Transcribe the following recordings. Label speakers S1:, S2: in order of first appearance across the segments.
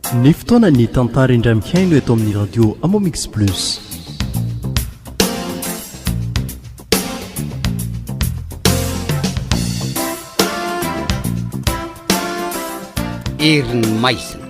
S1: Ny fotoana ny tantara indray mihaino eto amin'ny radio Amomix Plus.
S2: Herin'ny maizina.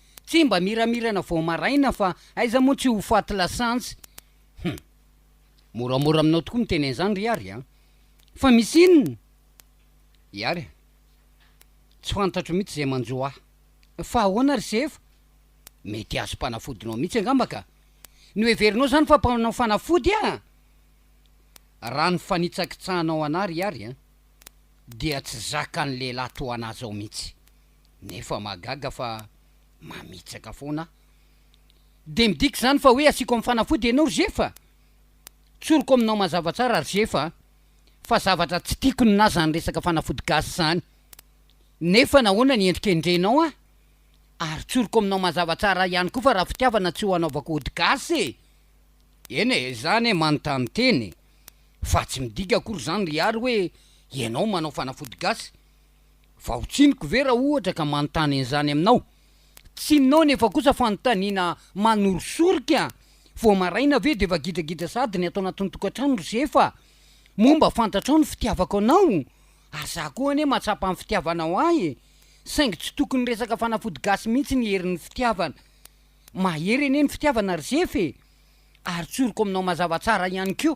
S2: Tsy mba miramirana vao maraina fa aiza moa tsy ho faty lasantsy. Hum. Moramora aminao tokoa miteny an'izany ry Iary a! Fa misy inona? Iary a! Tsy fantatro mihitsy izay manjo ahy. Fa ahoana ry Sefa? Mety azom-panafodinao mihitsy angamba ka! Noheverinao izany fa mpanao fanafody aho? Raha ny fanitsakitsahanao anah ry Iary a! Dia tsy zakan'ny lehilahy toa anah izao mihitsy. Nefa mahagaga fa mamitsaka foana aho. Dia midika izany fa hoe asiako amin'ny fanafody ianao ry Zefa? Tsoriko aminao mazava tsara ry Zefa a! Fa zavatra tsy tiako ny na izany resaka fanafody gasy izany. Nefa nahoana ny endrika endrenao an? Ary tsoriko aminao mazava tsara ihany koa fa raha fitiavana tsy ho anaovako ody gasy e! Eny e, izany e, manontany tena e! Fa tsy midika akory izany ry Ary hoe ianao manao fanafody gasy. Vao tsiniko ve raha ohatra ka manontany an'izany aminao? Tsininao nefa kosa fanontaniana manorisorik a! Vao maraina ve dia efa gidragidra sahady ny ato anatin'ny tokantrano ry Zefa? Moa mba fantatrao ny fitiavako anao? Ary za koa anie mahatsapa ny fitiavanao ahy e! Saingy tsy tokony resaka fanafody gasy mihitsy ny herin'ny fitiavana. Mahery anie ny fitiavana ry Zefa e! Ary tsoriko aminao mazava tsara ihany koa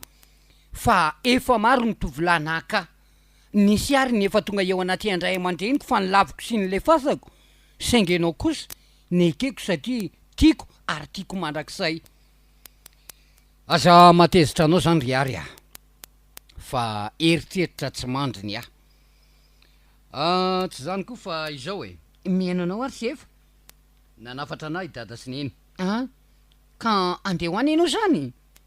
S2: fa efa maro ny tovolahy naka ahy. Nisy ary ny efa tonga eo anaty an-dray aman-dreniko fa nolaviko sy nolefasako, saingy ianao kosa nekeko satria tiako ary tiako mandrakizay. Aza matezitra anao izany ry Ary a! fa eritreritra tsy mandry ny ahy. Ah, tsy izany koa fa izao e! Mihaino anao ary tsy efa nanafatra anah i Dada sy Neny an! ka andeha ho any ianao izany?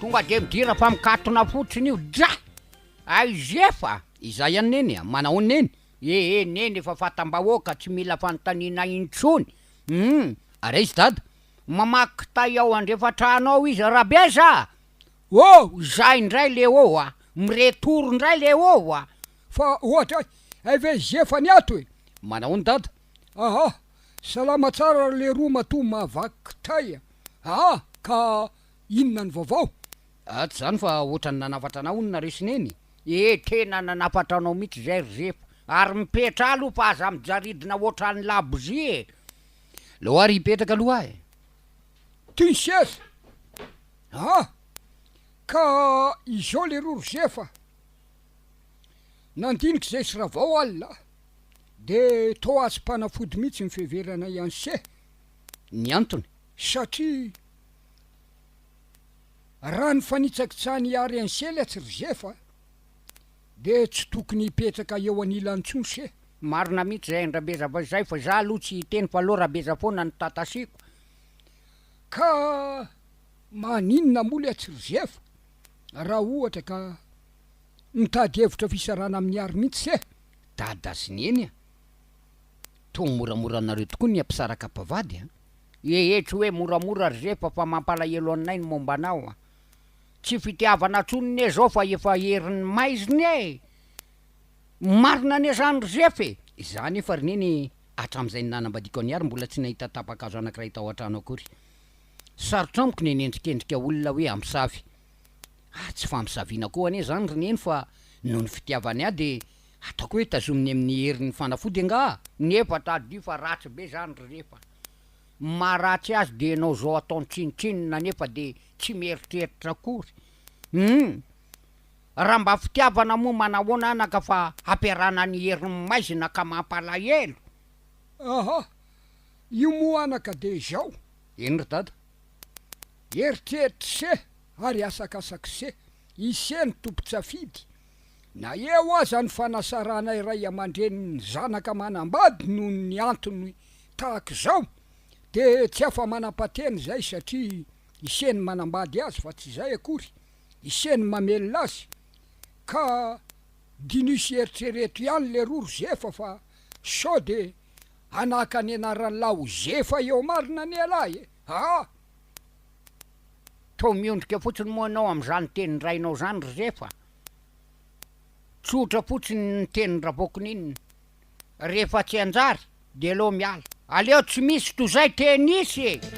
S2: Tonga de midira fa mikatona fotsiny io dra! Aiz efa! Izay ihany Neny a! Manahoana Neny? Ee Neny efa fatam-bahoaka tsy mila fanontaniana intsony! Humm! Ary aiza Dada? Mamaky kitay ao andrefan-trano ao izy Rabeza a! Oh! Izay indray le oh a! Miretour indray le oh a! Fa ohatra ay
S3: ve Zefany ato e! Manahoana Dada?
S2: Aha!
S3: Salama tsara ry leroa matoa mahavaky kitay a! Aha! Ka inona ny vaovao? Atsy izany fa
S2: ohatran'ny nanafatra anao hono nareo sy Neny? Eh tena nanafatra anao mihitsy izay ry Zefa ary mipetra aloha fa aza mijaridina ohatran'ny labozia e! Aleo ary hipetraka aloha aho e! Ty ny
S3: seza! Aha! Ka izao leroa ry Zefa a! Nandinika izay sy Ravao alina a! dia toa tsy mpanafody mihitsy ny fiheverana i Anse. Ny
S2: antony? Satria
S3: raha ny fanitsakitsahany i Ary Anse letsy ry Zefa dia tsy tokony hipetraka eo anilany intsony se. Marina mihitsy izay
S2: an-dRabeza fa izay fa za aloha tsy hiteny fa aleo Rabeza foana no tatasiako. Ka
S3: maninona moa letsy ry Zefa? Raha ohatra ka mitady hevitra fisarahana amin'i Ary mintsy eh! Dada sy
S2: Neny a! Toa moramora anareo tokoa ny hampisaraka mpivady a! Hehe tsy hoe moramora ry Zefa fa mampalahelo anay ny momba anao a! Tsy fitiavana intsony anie zao fa efa herin'ny maizina e! Marina anie zany ry Zefa e! Izaho anefa ry Neny hatramin'izay nanambadiako an'i Ary mbola tsy nahita tapa-kazo anankiray tao an-trano akory. Sarotra amiko ny hanendrikendrika olona hoe hampisavy. Ary tsy fampisaviana koa anie zany ry neny fa noho ny fitiavany ahy dia ataoko hoe tazominy amin'ny herin'ny fanafody angaha? Nefa tadidio fa ratsy be zany ry rehefa maharatsy azy dia ianao zao ataony tsinotsinona nefa dia tsy mieritreritra akory hum! Raha mba fitiavana moa manahoana anaka fa hampiarahana ny herin'ny maizina ka mampalahelo!
S3: Ahah! Io moa anaka dia izao! Eny ry dada. Eritreritr'ise ary asakasak'ise, ise no tompon-tsafidy. Na eo aza ny fanasaranay ray aman-dreny ny zanaka manambady noho ny antony tahaka izao dia tsy afa-manam-patena izay satria ise no manambady azy fa tsy izay akory, ise no mamelona azy. Ka diniho sy eritrereto ihany leroa ry Zefa fa sao dia Hanaka ny anaran'i laozefa eo marina anie lahy e! aa!
S2: Toa miondrika fotsiny moa ianao amin'izany tenin-drainao izany ry zefa? Tsotra fotsiny ny tenin'i ravoakoninina, rehefa tsy hanjary dia aleo miala. Aleo tsy misy toy izay tenisy e!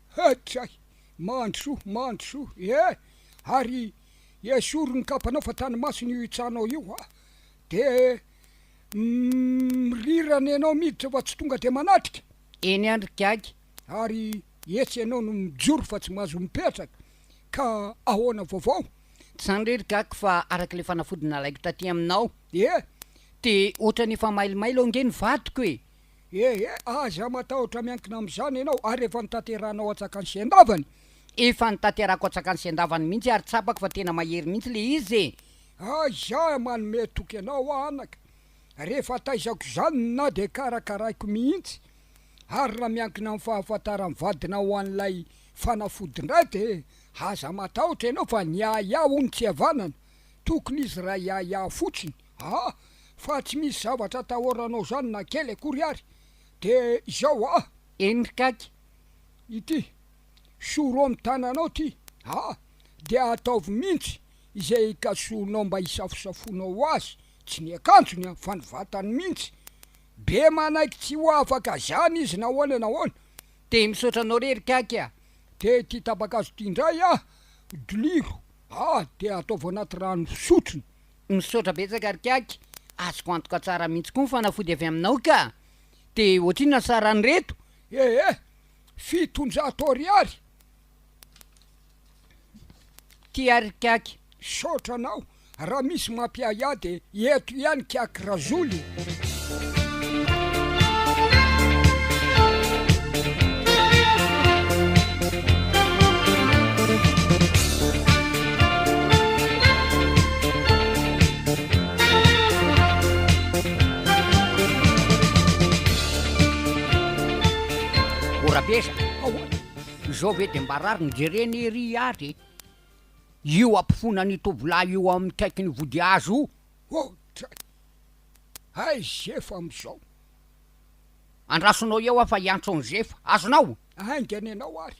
S2: Hkay!
S3: Mandrosoa, mandrosoa ee! Ary esory ny kapanao fa tany masina io itsanao io a! De mirirana ianao miditra fa tsy tonga de manatrika! Eny an ry Gaga!
S2: Ary
S3: etsy ianao no mijoro fa tsy mahazo mipetraka! Ka ahoana vaovao? Tsy zany re ry
S2: Gaga fa araka ilay fanafody nalaiko taty aminao! Dia? Dia
S3: ohatrany efa
S2: mailomailo ange ny vadiko e! Ee, aza matahotra
S3: miankina amin'izany ianao ary efa notanterahanao an-tsakan'i Sendavany? Efa
S2: notanterahako an-tsakan'i Sendavany mihitsy ary tsapako fa tena mahery mihitsy le izy e! Aiza aho
S3: manome toky anao anaka rehefa taizako izany na dia karakaraiko mihitsy? Ary raha miankina amin'ny fahafantaran'ny vadinao an'ilay fanafody indray dia aza matahotra ianao fa ny ahiahy hono tsy havanana, tokony izy raha hiahiahy fotsiny. Ah! fa tsy misy zavatra atahoranao zany na kely akory ary de izao ah! Eny kaka!
S2: Ity
S3: sorohom tananao ty ah! de ataovy mintsy izay hikasohonao mba hisafosafonao azy, tsy ny akanjony an! fa ny vatany mintsy! be manaiky tsy ho afaka zany izy nahoana nahoana! Te misaotra
S2: anao re ry kaka ah! Te ity
S3: tapa-kazo ty indray ah! dliro ah! de ataovy anaty rano fisotrona Misaotra betsaka
S2: ry Kiaky, azoko antoka tsara mihitsy koa ny fanafody avy aminao ka! De ohatrinona sarany reto? Ee, fitonjato
S3: ariary.
S2: Tia ry Kiaky. Misaotra anao,
S3: raha misy mampiahiahy dia eto ihany Kiaky Razoly e.
S2: zao ve de mba rariny jerena ery ary e io ampofoana ny tovolahy io amin'ny kaiky ny vodihazo io oh!
S3: Hay zefa amzao.
S2: Andrasonao eo aho fa hiantso an'i zefa. Azonao? Haingana ianao
S3: ary.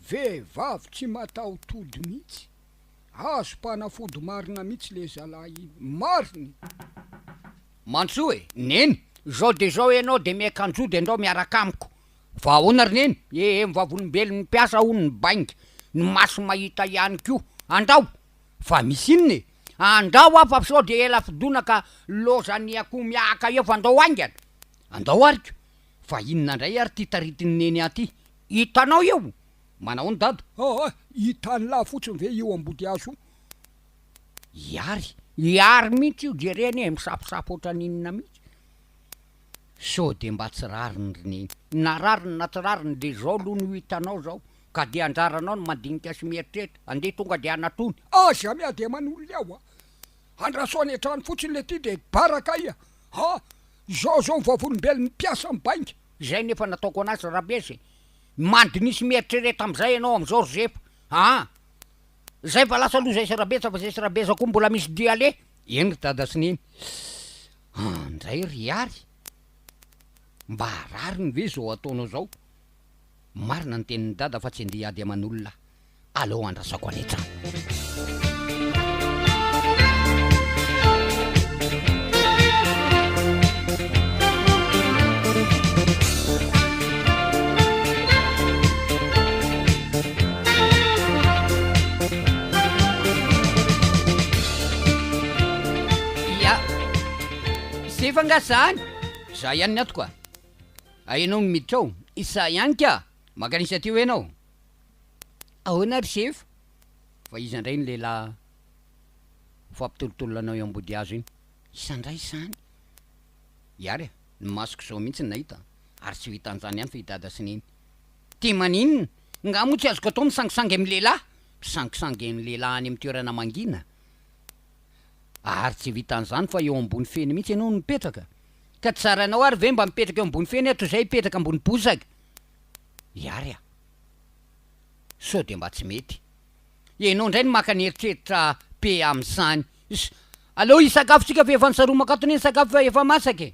S3: Vehivavy tsy matahotody mihitsy. Azo mpanafody marina mihitsy le zalahy iny. Marina
S2: e. Mantsoa e, Neny, zao de zao ianao de miaikanjody andao miaraka amiko. Fa ahoana ry Neny e e, ny vavolombelon'ny mpiasa hono ny bainga, ny maso mahita ihany koa. Andao. Fa misy inona e? Andrao aho fa sao dia ela fidona ka lozan'ny akoho miahaka eo fa andao haingana. Andao ary ko. Fa inona indray ary ity taritin'i Neny ahy ity? Hitanao io? Manahoana Dada? Aa! hitan'lah
S3: fotsiny ve io ambodihazo io? I Ary.
S2: I Ary mihitsy io, jereo anie misafosafo ohatran'ny inona mihitsy. Sao dia mba tsy rariny ry Neny? Na rariny na tsy rariny dia izao aloha no hitanao izao. Ka dia anjaranao ny mandinika sy mieritreritra, andeha tonga dia hanatony. Aza miady
S3: aman'olona aho a! Andraso any an-trano fotsiny le ty de bara kay a! Ha!
S2: Izao
S3: izao ny
S2: vavolombelon'ny
S3: mpiasa amin'ny
S2: bainga!
S3: Izay ny
S2: efa nataoko
S3: anazy
S2: Rabezy e! Mandinia sy mieritrereta amin'izay ianao amin'izao ry Zefa a! Izay fa lasa aloha izay sy Rabetsa fa izay sy Rabeza koa mbola misy dia aleha! Eny ry Dada sy Neny a! Ndray ry Ihary! Mba rariny ve izao ataonao izao? Marina ny tenin'i Dada fa tsy andeha hiady aman'olona aleo andrasako any an-trano. Ya! Zay fa nga zany? Za ihany ny antoko a! Ah ianao no miditra ao? Izaho ihany ka! Mankanisa aty hoy ianao? Ahoana ary Sefo? Fa iza indray iny lehilahy fampitolotoloanao eo ambodihazo iny? Iza indray izany? Ihary ah! Ny masoko izao mihitsy no nahita ary tsy ho hita an'izany ihany fa i Dada sy Neny. Dia maninona? Ngah moa tsy azoko atao misangisangy amin'ny lehilahy? Mpisangisangy ny lehilahy any amin'ny toerana mangina? Ary tsy vitan'izany fa eo ambony feny mihitsy ianao no mipetraka? Ka tsy zarainao ary ve mba mipetraka eo ambony feny aho toy izay hipetraka ambony bozaka? I Ary a! Sao dia mba tsy mety. Ianao indray no maka ny eritreritra be amin'izany. Is, aleo hisakafo tsika fa efa nisaromaka ato anie ny sakafo fa efa masaka e!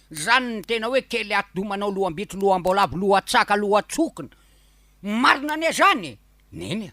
S2: Izany ny tena hoe kely atidoha manao loham-bitro loham-boalavo lohan-tsaka lohan-tsokina. Marina anie izany e! Neny a!